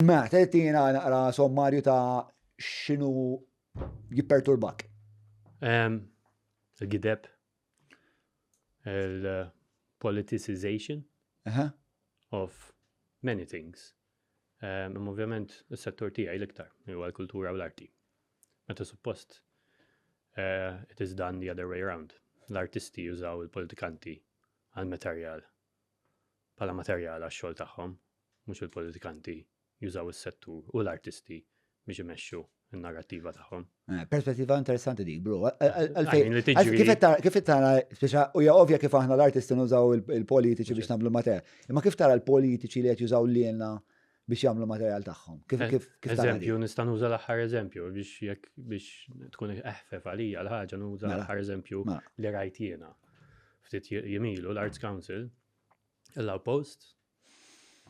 Mela, trid tina naqra sommarju ta' x'inhu jipperturbak. Il-gideb, il-politicization of many things. Imma ovvjament is-settur tiegħi l-iktar huwa l-kultura u l-arti. Meta suppost eh, it is done the other way around. L-artisti jużaw il-politikanti għal materjal bħala materjal għax-xogħol tagħhom, mhux il-politikanti jużaw is-settur u l-artisti biex imexxu n-narrattiva tagħhom. Eh, perspettiva interessanti dik, bro. Kif tara, speċa, u ja ovvja kif aħna l-artisti nużaw il-politiċi biex nagħmlu mater. Imma kif tara l-politiċi li qed jużaw lilna biex jagħmlu materjal tagħhom. Kif eh, kif kif Eżempju, nista' nuża l-aħħar eżempju biex jekk biex tkun eħfef għalija l-ħaġa nuża mela. l-aħħar eżempju mela. li rajt jiena. Ftit jimilu l-Arts Council, l post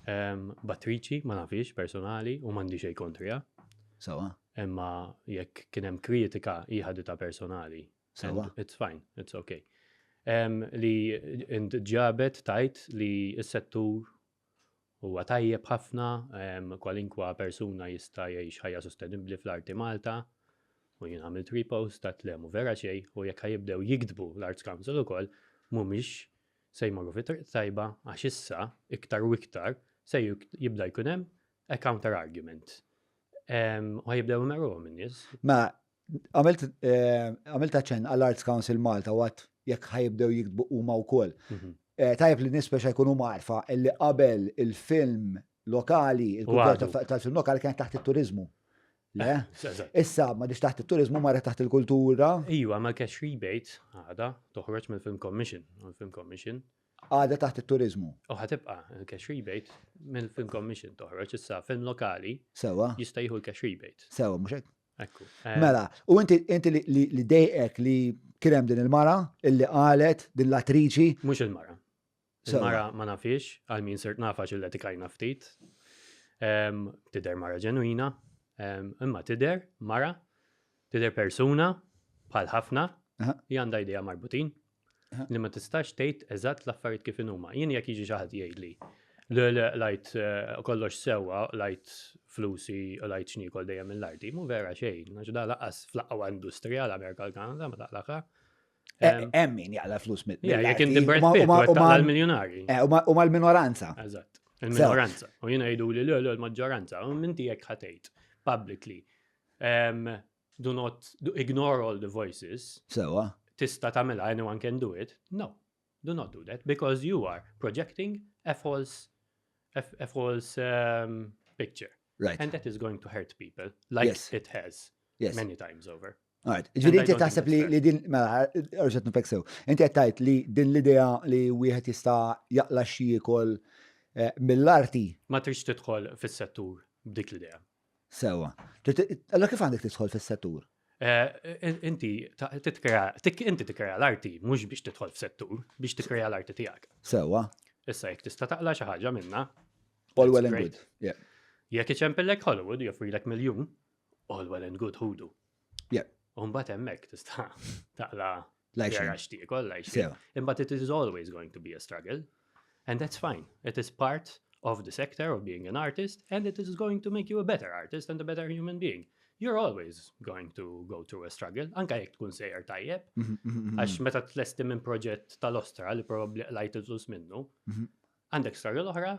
ehm, battriċi, ma nafix, personali, u mandi xej kontrija. Sawa. Imma jekk kien hemm kritika ta' personali. Sawa. It's fine, it's okay. Ehm, li ġabet tajt li s-settur Huwa tajjeb ħafna, kwalinkwa persuna jista' jgħix ħajja sostenibbli fl-arti Malta. U jien għamilt repost ta' tlemu vera xej u jekk ħajibdew jikdbu l-Arts Council ukoll mhumiex se jmorru fi triq tajba għax issa iktar u iktar se jibda jkun hemm a counter argument. U ħajibdew imerruhom in-nies. Ma Għamilt taċen eh, għall-Arts Council Malta għat jekk ħajibdew jiktbu huma wkoll. Mhm. Eh, tajjeb li nispeċa speċa jkunu marfa li qabel il-film lokali, il-kultura tal-film lokali kienet taħt it-turizmu. Le? Eh, Issa, ma diċ taħt il-turizmu marra taħt il-kultura. Iju, ma cash rebate għada toħroġ minn film commission, film commission. Għada taħt il-turizmu. U ħatibqa cash rebate minn film commission toħroġ issa film lokali. Sewa. Jista jieħu cash rebate. Sewa, mux Eh. Mela, u inti inti li dejqek li kien hemm din il-mara illi qalet din l-attriċi. Mhux il-mara. Il-mara ma nafix, għal min sirt nafax il etikajna ftit. Tider mara ġenwina, imma tider mara, tider persuna bħal ħafna, li għandha idea marbutin, li ma tistax tgħid eżatt l-affarijiet kif inhuma. Jien jekk jiġi xi ħadd jgħidli lajt eh, kollox sewwa, lajt flusi, lajt xnikol dejjem mill-arti, mu vera xejn, għax da laqas fl-aqwa industrija l-Amerika l-Kanada ma taqlaqa. Hemm min jaqla flus mill Jekk inti Brad Pitt mal-miljonari. Eh, u mal-minoranza. Eżatt. Il-minoranza. U jiena jgħidu li l-maġġoranza, u minti jekk ħatejt publicly. Do not do, ignore all the voices. Sewa. Tista' tagħmilha anyone can do it. No. Do not do that because you are projecting a false a, false um, picture. Right. And that is going to hurt people like yes. it has yes. many times over. Għad, ġviri inti taħseb li, li din, mela, rġet nfek sew, inti għattajt li din l-idea li wieħed jista jaqla xie kol eh, mill-arti. Ma trix tidħol fis-settur b'dik l-idea. Sewa. Allora kif għandek tidħol fis-settur? Eh, eh, inti titkrea, inti titkrea l-arti mhux biex tidħol f'settur, biex titkrea l-arti tiegħek. Sewa. Issa jekk tista' taqla xi ħaġa minna. All well and good. Yeah. Jekk iċempillek Hollywood joffrilek miljun, all well and good ħudu. Yeah. Umbat hemmhekk tista' taqla Lajxin. Għax ti ikoll lajxin. Imma it is always going to be a struggle. And that's fine. It is part of the sector of being an artist and it is going to make you a better artist and a better human being. You're always going to go through a struggle, anka jek tkun sejjer tajjeb, mhm, mhm, mhm, għax meta tlesti minn proġett tal-ostra li probabli lajt iżus minnu, għandek struggle oħra,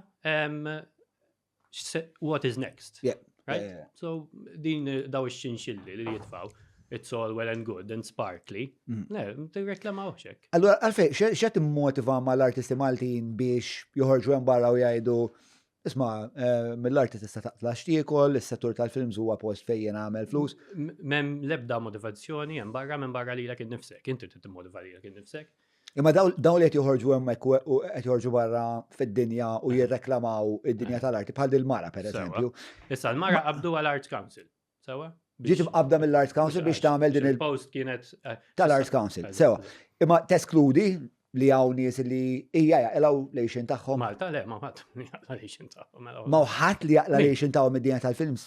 what is next? Yeah. Right? Yeah, yeah. So din daw ix-xinxilli li jitfaw, it's all well and good and sparkly. Mm. Le, tirreklama uħxek. Allora, għalfej, xe timmotiva ma l-artisti Maltin biex joħorġu hemm barra u jgħidu Isma, eh, mill-arti tista' taqtla xtiekol, is-settur tal-films huwa post fejn għamel flus. Mem lebda motivazzjoni hemm barra minn barra lilek innifsek, inti trid timmotiva lilek innifsek. Imma dawn li qed joħorġu hemmhekk u qed joħorġu barra fid-dinja u eh. jirreklamaw id-dinja tal-arti bħal dil-mara pereżempju. Issa l-mara qabdu għal Art Council. Sewa? Ġiet imqabda mill-Art Council biex tagħmel din il-post kienet eh, tal-Art Council. Sewa. Imma teskludi li hawn nies li hija jaqlaw lejxin tagħhom. Malta le ma ħadd li jaqla lejxin tagħhom. Ma ħadd li jaqla lejxin tagħhom id-dinja tal-films.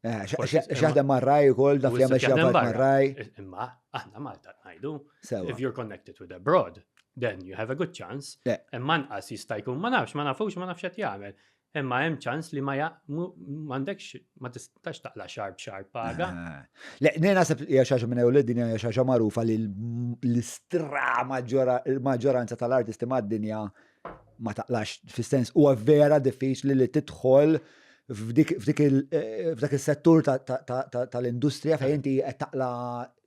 Eh, xaħdem marraj u koll, daf li għamil xaħdem marraj. Imma, aħna Malta najdu, if you're connected with abroad, then you have a good chance. Imma nqas jista' jkun ma nafx, ma nafux, ma nafx qed jagħmel. Imma hemm ċans li ma m'għandekx ma tistax taqla xarb xarb paga. Eh. Le, nej naħseb hija xaġa minn ewled din hija xaġa magħrufa li l-istra maġġoranza tal-artisti mad-dinja ma taqlax fis-sens huwa vera diffiċli li tidħol f'dak is-settur tal-industrija fejn inti qed taqla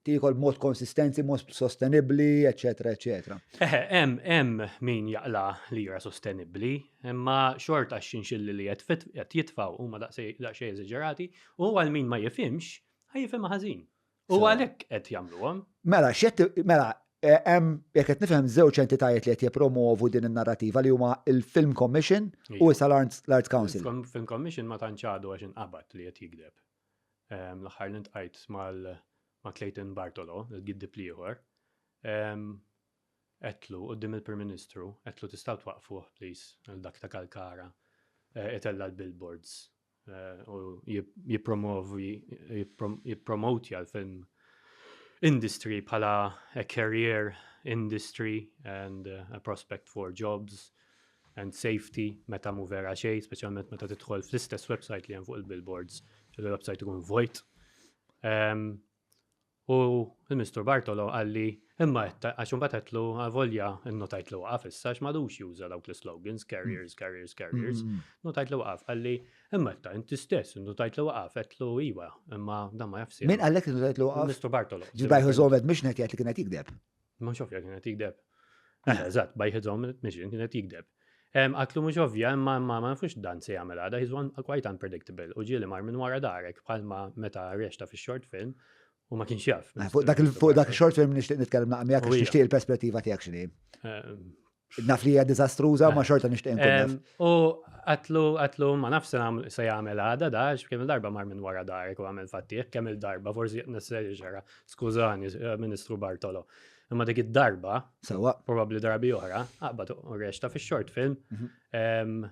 tiekol mod konsistenzi, mod sostenibbli, eċetera, eċetera. Eħe, hemm hemm min jaqla li jra sostenibbli, imma xorta xinxilli li qed jitfgħu huma daqsxejn eżaġerati, u għal min ma jifhimx, ħajjifhem ħażin. U għalhekk qed jagħmluhom. Mela, x'qed mela eh, hemm jekk qed nifhem żewġ entitajiet li qed jippromovu din in-narrativa li huma il-Film Commission u issa l-Arts Council. Film Commission ma tantx għadu għax inqabad li qed jigdeb. Ehm, l-aħħar li ntqajt mal ma' Clayton Bartolo, il-giddib liħor, etlu ehm, dim il-Prim Ministru, etlu tistaw twaqfuh, please, dak ta' Kalkara, etella eh, l-billboards u jippromotja l-film industry bħala a career industry and a prospect for jobs and safety meta mu vera xej, speċjalment meta tidħol fl-istess website li hemm fuq il-billboards, il-website ikun vojt. Um, U l-Ministru Bartolo qalli, imma qed ta-, għax imbagħad għedtlu avolja nnotajtlu waqaf issa għax m'għadux juża dawk l-islogans, carriers, carriers, carriers, notajtlu waqaf, qalli, imma qed ta-, inti stess innotajtlu waqaf, għedtlu iva, imma dan ma jafx sehem. Min qallek li notajtlu waqaf? Il-Ministru Bartolo. Ġbajh iżomed mhux ngħid jgħid li kien qed jigdeb. Ma xofja kienet jikdeb. Eh. Eżatt, by his own admission kienet jikdeb. Għatlu mhux ovvja, imma ma nafux dan se jagħmel għada, he's one quite unpredictable u ġieli mar minn wara darek bħalma meta rexta fix-short film u ma kienx jaf. Eh, fuq dak il-short film nixtieq nitkellem naqmijak għax nixtieq il-perspettiva tiegħek x'inhi. Naf li hija diżastruża ma xorta nixtieq inkun naf. U għatlu għatlu ma naf se jagħmel għada da għax kemm il-darba mar minn wara darek u għamel fattieħ kemm il-darba forsi nesseri ġara. Skużani, eh, Ministru Bartolo. Imma dik id-darba, sewa, probabbli darbi oħra, aqbad u reċta fix-short film. Mhm.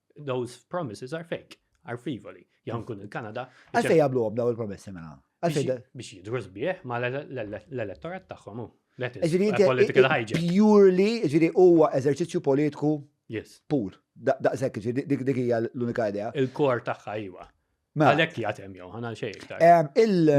Those promises are fake, are frivoli. Jgħan kun il-Kanada. Għalfej jablu għom daw il-promessi mela. Biex jidru sbieħ ma l-elettorat taħħom. Political hygiene. Purely, ġiri, huwa eżerċizzju politiku. Yes. Pur. Daqsek, dik dik hija l-unika idea. Il-kor tagħha iwa. Mela. Għalek li għatem jow, għana xej iktar.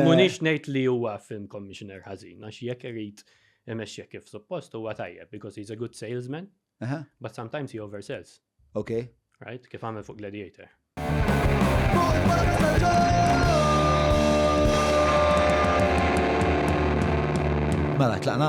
Munix nejt li huwa film commissioner ħazin, għax jek irrit imexxek kif suppost huwa tajjeb, because he's a good salesman, Aha. But sometimes he oversells. Okay. Right? Kif għamel fuq Gladiator. Mela, tlaqna?